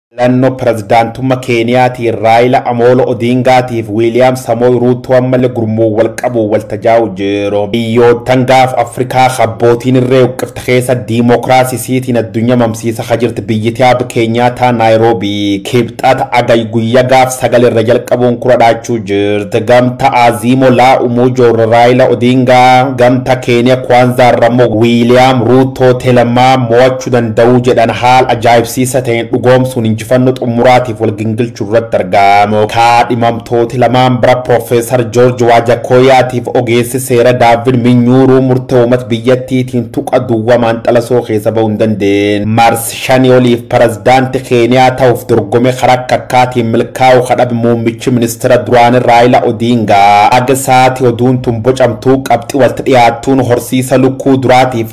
Filannoo pirezidaantumma Keeniyaatiin Raayila Amoolo Odiingaatiif Wiiliyaam Samooy Ruuttoo ammalle gurmuun wal qabuun wal tajaa'u jiru. Biyyoottan gaafa Afrikaa ka abbootiin irree huqqifte keessa diimokiraasi isiitiin addunya mamsiisa ka jirti biyyiti Aab Keenyaataa Naayiroobii Kibxata Agayi guyya gaaf sagal irra jalqabuun kura dhaachuu jirt. Gamta Aziimo Laa Umuujoo irra Raayila Odiingaa, gamta Keeniya Kwanzaa irra ammoo Wiiliyaam Ruuttoo Telemaa mo'achuu danda'uu jedhan haal ajaa'ibsiisa ta'een dhugoomsuun injifannoo xumuraatiif wal gingilchuu irratti argaamu. Kaadhimamtooti lamaan bira Piroofeesar Joorji Waajakooyaatiif ogeessi seera Daavvid Minyuuruu murtee uumat biyyattiitiin tuqa duwwa maanxalasoo keessa ba'uu hin dandeen. Mars shanii oliif Pirezidaanti Keeniyaa ta'uuf dorgome karaa akka akkaatiin milkaa'uu kadhabe muummichi ministeera duraanii Raayila Odiingaa. Aga sa'aatii oduun tun bocamtuu qabxi walti dhiyaattuun horsiisa lukkuu duraatiif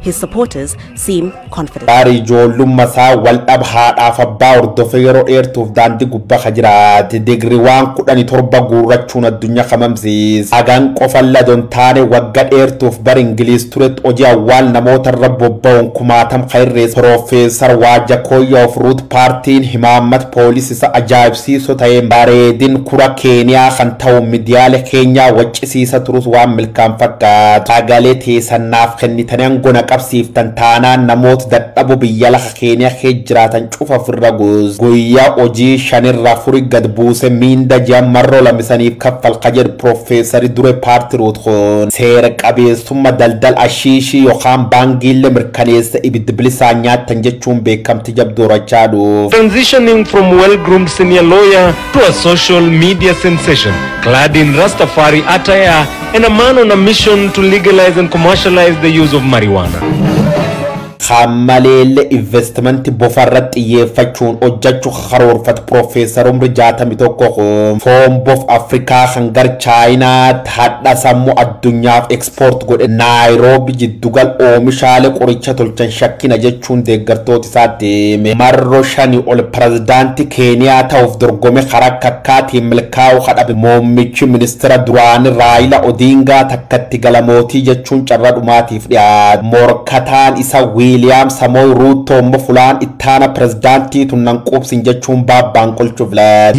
his supporters seem confident. Taari ijoollumma isaa waldhab haadhaaf abbaa hordofee yeroo dheertuuf daandii gubba ka jiraate digriwaan kudhani torba guurrachuun addunyaa ka mamsiis hagan qofalla don taane wagga dheertuuf bar Ingiliiz turetti hojii awwaal namoota irra bobba'uun kumaatam ka irrees Piroofeesar Waajakooyyaa of Ruut Paartiin himaammata Police isa ajaa'ibsiiso ta'een bareedin kura keeniyaa kan ta'u midiyaale keenyaa waccisiisa turus waan milkaan fakkaatu sagalee teesan naaf kennitani ango na qabsiiftan taanaan namoota dadhabo biyya lafa keeniya kee jiraatan cufa ofirra gus guyya hojii shan irra afuri gad buuse miinda ji'an marro lama isaniif kaffal ka jedhu professari dure party root kun seera qabeessumma daldal ashiishii yokaan baangiille mirkaneessa ibiddi bilisaan nyaattan jechuun beekamte itti jabdoorachaa dhuuf. Transitioning from well-groomed senior lawyer to a social media sensation, clad in Rastafari attire and a man on a mission to legalize and commercialize the use of marijuana. Kaan maleelle investimanti bofa irratti xiyyeeffachuun hojjechuu karoorfate Piroofeesar Umri 61 kun foon bof Afrikaa kan gar Chaayinaatti hadha sammuu addunyaaf Paaspoort godhe Naayiroobi jiddugal oomishaale qoricha tolchan shakkina jechuun deeggartooti isaa deeme marro shani ol Pirezidaanti Keeniyaa ta'uuf dorgome kara akka akkaatiin milkaa'u ka dhabe muummichi ministira duraani Raayila Odiingaa takka itti gala mootii jechuun carra dhumaatiif dhiyaate morkataan isa Wiiliyaam Samooy Ruuttoo immo fulaan ittaana pirezidaantii tun nan quubsin jechuun baabbaan qolchu filate.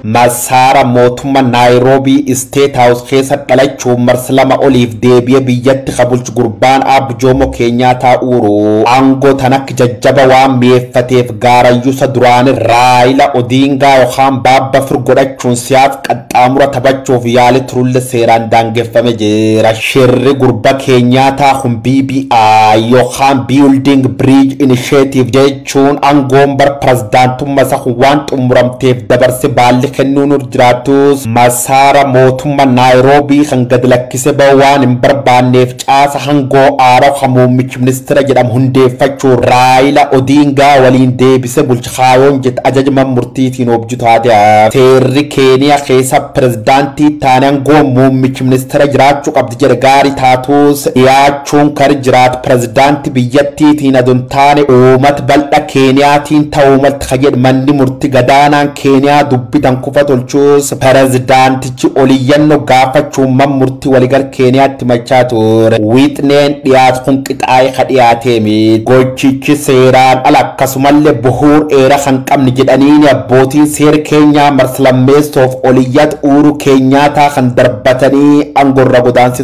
Masaara mootumma Naayiroobii Isteet Haawus keessa dhalachuun marsa lama oliif deebiye biyyatti ka bulchu gurbaan Aab Joomo Keenyaataa Uuru aangoo tan akk jajjaba waan mi'eeffateef gaarayyusa duraani Raayila Odiingaa yokaan Baabba Fir godhachuun siyaas qaxxaamura tabachuuf yaali turulle seeraan daangeffame jira. Shirri gurba Keenyaataa kun BBI yokaan Building Bridge Initiative Chuun angoon bar pirazdaantumma isa kun waan xumuramteef dabarse baalli kennuun irra jiraatus masaara mootumma Naayiroobii kan gad lakkise ba'u waan hin barbaanneef caasa hangoo aaraw kan muummichi ministira jedhamu hundeeffachuun Raayila Odiingaa waliin deebise bulcha kaayoon jette ajaja man murtiitiin oobju taate hafte. Seerri Keeniya keessa pirazdaantii ittaane angoon muummichi ministira jiraachu qabdi jedhe gaari taatus dhiyaachuu Chunkar jiraat pirezidaanti biyyattiitiin ado hin taane uumat baldha Keeniyaatiin ta'uu malti ka jedh manni murti gadaanaan Keeniyaa dubbi tan kufa tolchuus pirezidaantichi oliyyanno gaafachuun man murti waligal Keeniyaatti himachaa tuure. Wixneen dhiyaat kun qixaa'e ka dhiyaatee mit. Gochichi seeraan ala akkasumalle buhuur eera kan qabne jedhaniini abbootiin seer Keenyaa mars lammeessoof oliyyat Uuru Keenyaataa kan darbatanii ango irra godaansisan.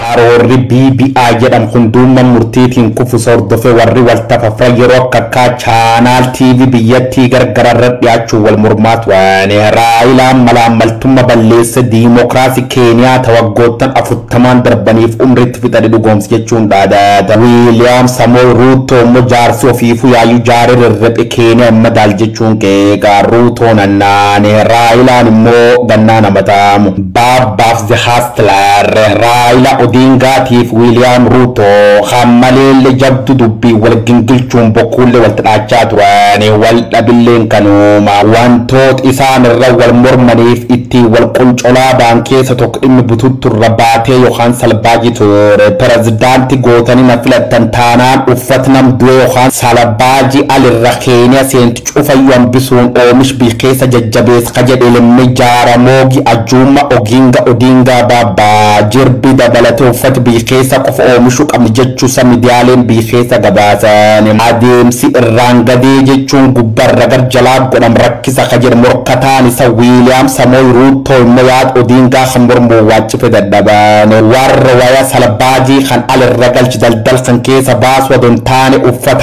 Karoorri BBI jedhamu kun duumman murtiitiin kufuse hordofe warri wal tafafran yeroo akka akkaa channel TV biyyattii gargara irra dhiyaachuun wal mormaa turan. Raayilaan malaammaltumma balleesse diimokiraasi Keeniyaa ta waggoottan afurtamaan darbaniif umriitti fixate dhugoomse jechuun dhaadata. Wiiliyaam Samooy Ruuttoo immoo jaarsi ofiifuu yaayyuu jaare rerrephe Keeniyaa hin madaalle jechuun qeeqa. Ruutoon hannaane. Raayilaan immoo gannaan hamataamu. Baabbaaf The Hustler, Raayila Odingaa tiif Wiiliyaam Ruuto kan maleelle jabdu dubbiin wal gingilchuun bokkuulle wal tadhaachaa turan. Wal dhabilleen kanuuma. Wantoot isaan irra wal mormaniif ittiin wal qoncolaa baan keessa tokk dhimmi bututtu irra baatee yokaan salbaaji ture. Perezidaanti gootani na filattan taanaan uffat nam du'ee yokaan salabaaji al irra keenee seentu Ch'ufayyu hambisuun oomish biy keesa jajjabeesa ka jed'e Lemme Jaramogi Ajuma Oginga Odinga baba jirbi dabalate uffati biy keesa qofa oomishu qamna jechu sa midiyaalen biy keesa gabaasan. Adeemsi irraan gadee jechuun gubba irra gar jalaat godham rakkisa ka jedhe morkataan isa William Samoy Ruto immo yaad Odinga kan mormuun waaccife dadhaban. Warra waya salbaajii kan al irra galch daldal kan keesa baasu ado hin taane uffat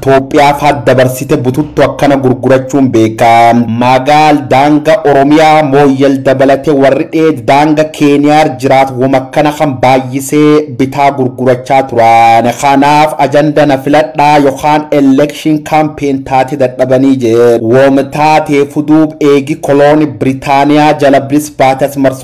Toophiyaaf had dabarsite bututtu akkana gurgurachuun beekaa. Magaal daanga Oromiyaa Mooyyal dabalate warri dheed daanga Keeniyaar jiraat woma akkana kan baayyisee bitaa gurgurachaa turaan. Kanaaf ajanda na filadhaa yokaan election campaign taate dadhabanii jeed. Wom taateefu duub eegi kolooni Britaniyaa jala blis baate as marsuun.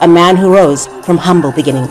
A man who rose from humble beginnings.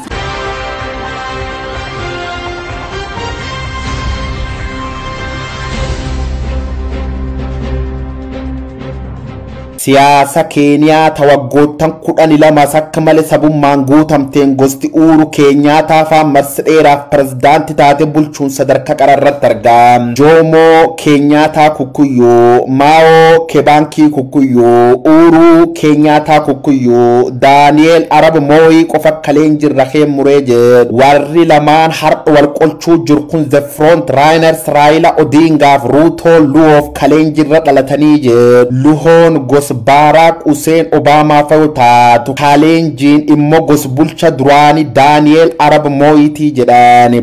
Siyaasa Keeniyaa ta waggoottan kudhani lama sakka male sabummaan guutamteen gosti Uuru Keenyaataa faan marsa dheeraaf pirezidaanti taate bulchuun sadarka qara irratti arga. Joomoo Keenyaataa Kukkuyyuu, Maao Kebaankii Kukkuyyuu, Uuruu Keenyaataa Kukkuyyuu, Daani'eel Arab Mooyii qofa kaleen jirra keen muree jedhu. Warri lamaan har'a wal qolchuu jiru kun The Front Runners Raayila Odiingaaf Ruutoo Luwoof kaleen jirra dhalatanii jedhu. Luhoon gos Baaraak Huseen Obaamaafa yoo taatu, Kaaleenjiin immo gos bulcha duraani Daani'eel Arab Mooyitii jedhan.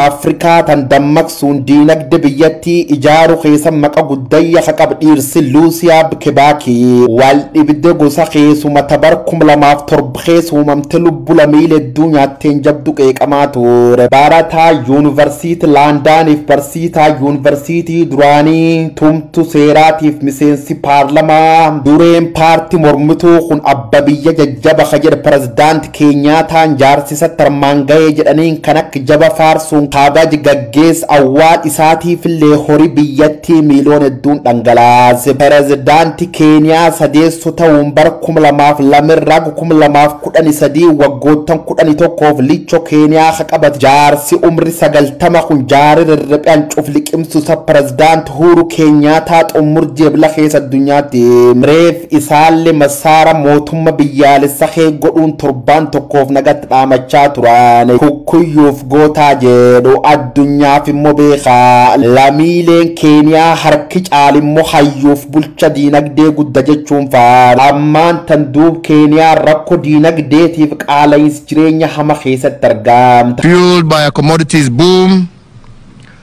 Afrikaa tan dammaqsuu sun diinagde biyyattii ijaaru keessa maqa guddayya ka qab dhiirsi Luusiyaa Bkebaaki wal dhibde gosa keessuma ta bar 2007 keessa uumamte lubbu lamiile hedduu nyaatteen jabdu qeeqamaa tuure. Barataa Yuunivarsiiti Laandaaniif barsiisaa Yuunivarsiitii duraanii tumtu seeraatiif miseensi paarlamaa dureen paarti mormituu kun abba biyya jajjaba ka jedhe Pirezidaant Keenyaataan jaarsi isa tarmaan gahee jedhaniin kan akka jaba faarsuun kaabaj gaggeess awwaal isaatiifillee hori biyyattii miiliyoon hedduun dhangalaase. Perezidaanti Keeniyaa sadeesso ta'uun bara 2002 irraa hanga 2013 waggoottan 11f licho Keeniyaa ka qabate jaarsi umri 90 kun jaari rirriphe hancuuf liqimsu isa Perezidaant Huuru Keenyaataa xummurji Ebla keessa addunyaatti reef Isaalle massaara mootumma biyyaalessa kee godhuun torbaan tokkoof nagatti dhaamachaa turaan kukkuyyuuf gootaa jeedhu addunyaaf immo beekaa. Lamiileen Keeniyaa harki caal immo hayyuuf bulcha diinagdee gudda jechuun faarsu. Ammaan tan duub Keeniyaan rakko diinagdeetiif qaalayiins jireenya hama keessatti argaamta. Fueled by a commodities boom,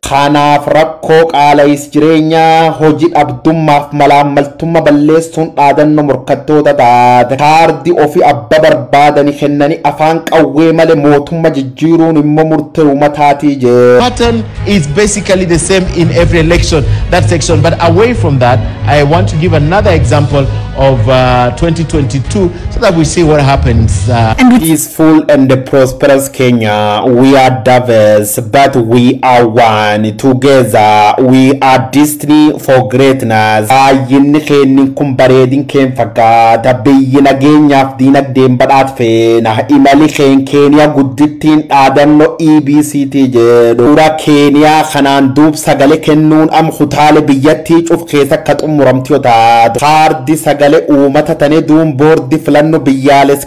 Kanaaf rakkoo qaala'is jireenyaa, hoji dhabdummaaf malaammaltumma balleessuun dhaadanno morkattoota taate kaardi ofi abba barbaadani kennani afaan qawwee male mootumma jijjiiruun immo murte umataati jedhe. pattern is basically the same in every election that section but away from that I want to give another example of uh, 2022 so that we see what happens uh, And with Please Full and prosperous Kenya, we are diverse but we are one. Together we are destiny for greatness. Baay'inni keennin kun bareedin keen fakkaata. Biyyi nageenyaaf diinagdeen badhaat feena. Imali keen Keeniya guddittiin dhaadanno EBCT jedhu. Ura Keeniya kanaan duub sagale kennuun am kutaale biyyattii cuf keesa ka xummuramtu yoo taatu. Kaardi sagale uumata tane duun boordi filanno biyyaales.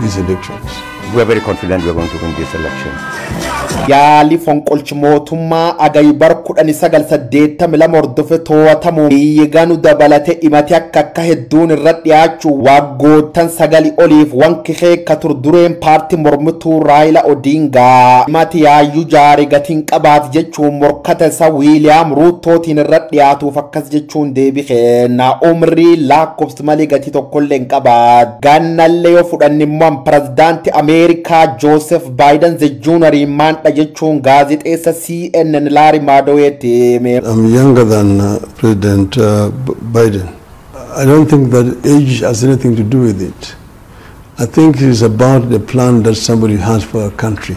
these elections. We are very confident we are going to win this election. Yaalii fonqolchi mootummaa Agayi bara 1982 hordofe to'atamu biyyi ganu dabalate dhimati akka akka hedduun irra dhiyaachuu waggoottan sagali oliif wanki keekka tur dureen paarti mormituu Raayila Odiingaa dhimati yaayyuu jaare gatiin qabaati jechuun morkata isa Wiiliyaam Ruuttootiin irra dhiyaatuuf akkas jechuun deebi keenna umrii laakkofsa malee gatii tokkollee hin qabaatu. Gaannallee yoo fudhanne immoo an pirezidaanti Ameerikaa Joosef Baayidan ze juunarii maandha jechuun gaazexeessa CNN Laari Maadoweetti hime. I'm younger than uh, President uh, B- Biden. I don't think that age has anything to do with it. I think it is about the plan that somebody has for a country.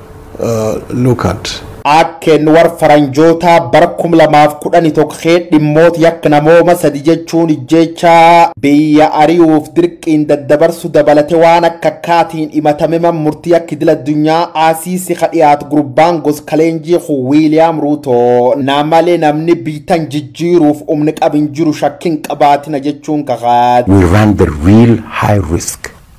look at. Akkn war faranjootaa bar 2011 kee dhimmoot yakk namooma sadi jechuun ijjeechaa, biyya ari'uuf dirqiin daddabarsu dabalate waan akka akkaatiin imatame man murtii yakk idil addunyaa ICC ka dhiyaat gurbaan gos kaleenjii kun William Ruto na male namni biy tan jijjiiruuf umn qab hin jiru shakkin qabaatina jechuun kakaat. We run the real high risk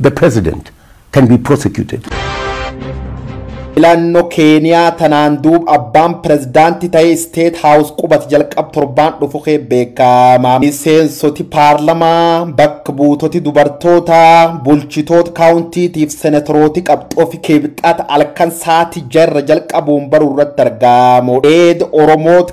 the president can be prosecuted. Filannoo Keeniyaa tanaan duub abbaan pirezidaantii ta'ee isteet haawus qubate jalqab torbaan dhufu kee beekama. Miseensoti paarlamaa, bakka buutoti dubartootaa, bulchitoota kaawuntiitiif senatorooti qabxoo fi kibxata halkan saati jarra jalqabuun baruu irratti argamu. Eed Oromoot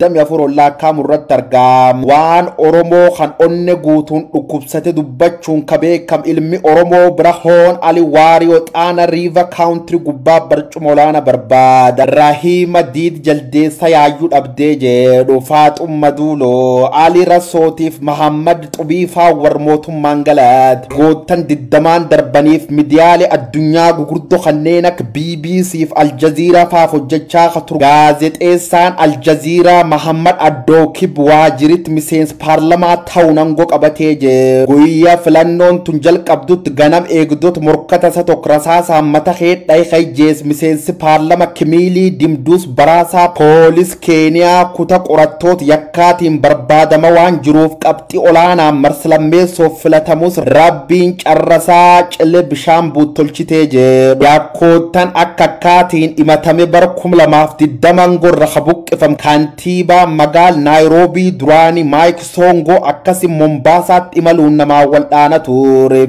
damee afur ol laakkaa'amu irratti argaa waan Oromoo kan onne guutuun dhukkubsate dubbachuun ka beekam ilmi Oromoo Birahoon Ali Waariyoo Xaana Riiva Kaawuntiri gubbaa barcuma olaana barbaada Rahiima Diid Jaldeessa yaayyuu dhabdee jedhu Faaxumma Duuloo Ali Rasootiif Mahammad Qubiifaa war mootummaan Galaad waggoottan digdamaan darbaniif midiyaalee addunyaa gugurdo kanneen akka bbc fi Aljaziiraa faaf hojjachaa ka ture gaazexeessaan Aljaziiraa Mahammad Addookib Waajiritti miseensa paarlamaa ta'uun angoo qabatee jira. Guyya filannoon tun jalqabdutti ganam eegdota morkata isa tokko rasaasaan mata keet dhahe ka ijjeese miseensi paarlama Kimiilii Dimduus Baraasaa poolis Keeniyaa kuta qorattoot yakkaatiin barbaadama waan jiruuf qabxi olaanaan marslammeessoof filatamus Rabbiin carrasaa cille bishaan buut tolchitee jedhu. Yakkoottan akkakkaatiin himatame bara 2020 angorra ka buqqifam kantiibaa magaal Naayiroobii duraani Maayik Soongo akkasi Mombaasaatti imaluun namaan waldhaana ture.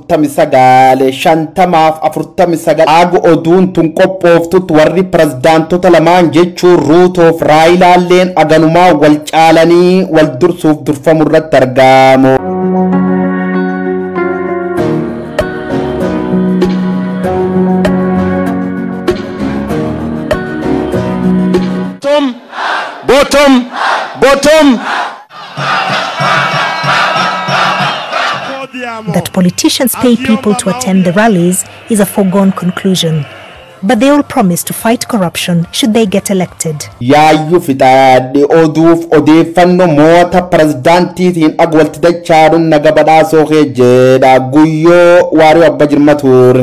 49 50 fi 49 Aag oduun tun qophooftutti warri pirezidaantota lamaan jechuun Ruutoo fi Raayilaalleen aganumaa wal caalanii wal dursuuf durfamu irratti argamu. bottom, bottom, bottom. That politicians pay people to attend the rallies is a foregone conclusion. But they all promise to fight corruption should they get elected. Yaayyu fixaadhe oduuf odeeffanno moota pirezidaantiitiin ag walti dachaaduun naga badhaasoo kee jedha guyyoo waariyoo abba jirma tuur.